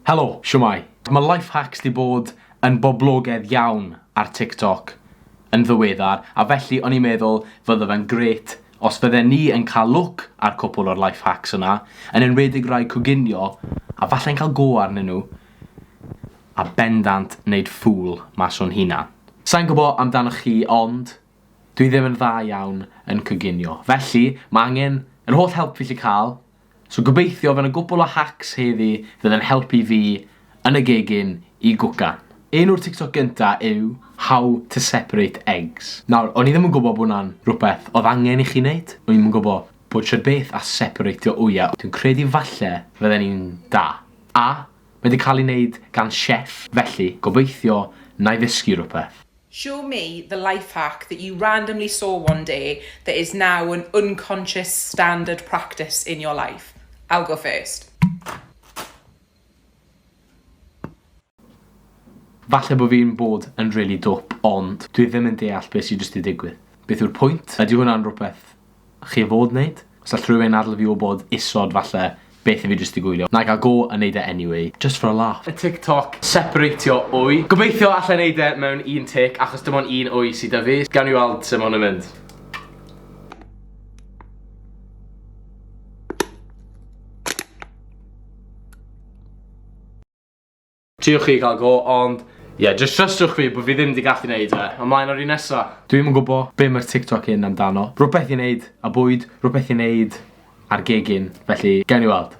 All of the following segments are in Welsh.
Helo, shwmae? Mae Life Hacks 'di bod yn boblogedd iawn ar TikTok yn ddiweddar, a felly o'n i'n meddwl fydde fe'n grêt os fydden ni yn cael lwc ar cwpwl o'r Life Hacks yna, yn enwedig rai coginio, a falle'n cael go arnyn nhw, a bendant wneud ffŵl mas o'n hunan. Sai'n gwybod amdanoch chi, ond dwi ddim yn dda iawn yn coginio, felly mae angen yr holl help fi 'llu cael. So gobeithio fy' 'na gwpwl o hacks heddi fydd yn helpu fi yn y gegin i gwcan. Un o'r TikTok gynta yw how to separate eggs. Nawr, o'n i ddim yn gwbo bo' 'na'n rwbeth odd angen i chi neud, o'n i'm yn gwbo bod shwd beth a separatio wya, dwi'n credu falle fydden ni'n da. A, mae 'di ca'l 'i neud gan chef, felly gobeithio 'nai ddysgu rwbeth. Show me the life hack that you randomly saw one day that is now an unconscious standard practice in your life. I'll go first. Falle bo fi'n bod yn rili dwp ond dwi ddim yn deall be sy jyst 'di digwydd. Beth yw'r pwynt? Ydy hwnna'n rwbeth chi o fod neud. Os all rhywun adl fi wbod isod falle beth i fi jyst i gwylio. Na'i ga'l go a neud e anyway. Just for a laugh. Y tic toc separatio wy. Gobeithio allai neud e mewn un tic achos dim ond un wy sy 'da fi. Gawn ni weld sut ma' hwn yn mynd. Triwch chi cael go ond ie jyst trystiwch fi bod fi ddim di gallu neud e. Ymlaen o'r un nesa. Dwi'm yn gwbo be ma'r TikTok hyn amdano. Rwbeth i neud a bwyd, rwbeth i neud ar gegin, felly gewn ni weld.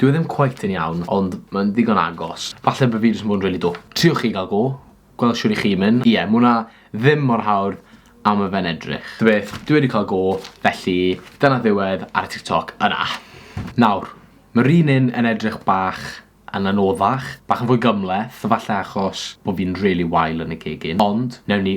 Dyw e ddim cweit yn iawn, ond mae'n ddigon agos. Falle bo' fi jyst yn bod yn rili dwp. Triwch chi ga'l go, gweld shwd 'ych chi'n mynd. Ie, ma' wnna ddim mor hawdd a ma' fe'n edrych. Ta beth, dwi wedi ca'l go, felly dyna ddiwedd ar y TikTok yna. Nawr, ma'r un un yn edrych bach yn anoddach, bach yn fwy gymhleth, falle achos bo' fi'n rili wael yn y gegin, ond newn ni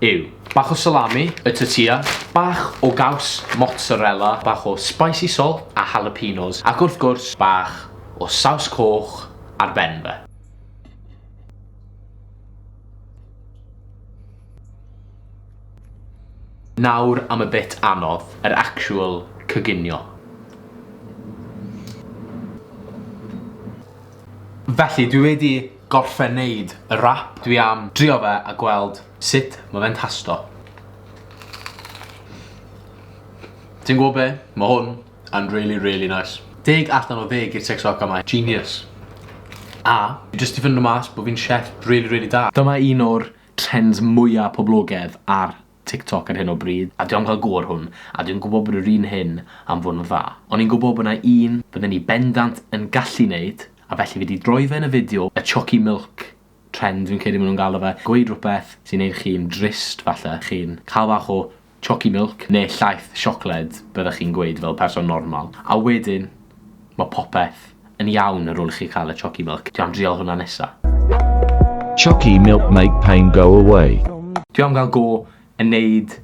yw. Bach o salami, y tortilla, bach o gaws mozzarella, bach o spicy salt a jalapenos, ac wrth gwrs, bach o saws coch ar ben fe. Nawr am y bit anodd, yr actual coginio. Felly, dwi wedi gorffen neud y rap dwi am drio fe a gweld sut ma fe'n tasto. Ti'n gwbo be? Ma hwn yn rili rili nais. Deg allan o ddeg i'r TikTok yma. Genius. A fi jyst 'di ffindo mas bo fi'n chef rili rili da. Dyma un o'r trends mwya poblogedd ar TikTok ar hyn o bryd a dwi am ca'l go ar hwn a dwi'n gwbo bod yr un hyn am fod yn dda. O'n i'n gwbo bo 'na un fydden i bendant yn gallu neud A felly fi 'di droi fe yn y fideo, y chocky milk trend fi'n credu ma' nhw'n galw fe, gweud rhywbeth sy'n neud chi'n drist falle, chi'n ca'l bach o chocky milk ne' llaeth siocled byddech chi'n gweud fel person normal, a wedyn ma' popeth yn iawn ar ôl i chi ca'l y chocky milk. Dwi am drial hwnna nesa. Chocky milk make pain go away. Dwi am ga'l go yn neud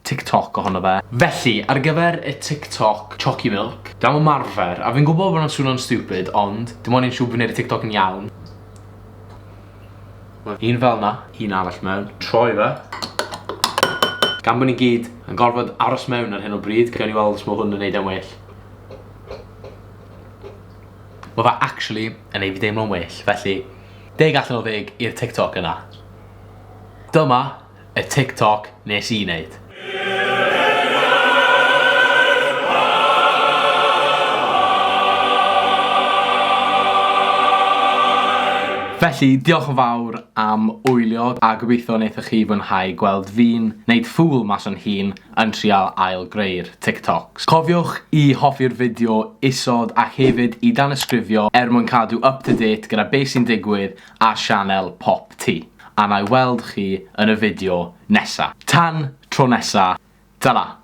TikTok ohono fe. Felly, ar gyfer y TikTok Chocky Milk, dwi am ymarfer, a fi'n gwybod bod hwnna'n swnio'n stupid, ond dim ond un siŵr bod fi'n neud y TikTok yn iawn. Un fel 'na, un arall mewn, troi fe. Gan bod ni gyd yn gorfod aros mewn ar hyn o bryd, gawn ni weld os ma' hwn yn neud e'n well. Ma' fe actually yn neud fi deimlo'n well, felly deg allan o ddeg i'r TikTok yna. Dyma y tic toc nes i neud. Felly, diolch yn fawr am wylio a gobeithio wnaethoch chi fwynhau gweld fi'n neud ffŵl mas o'n hun yn trial ail greu'r tic tocs. Cofiwch i hoffi'r fideo isod a hefyd i danysgrifio er mwyn cadw up to date gyda be sy'n digwydd ar sianel Pop Tee. A na'i weld chi yn y fideo nesa. Tan tro nesa, tara!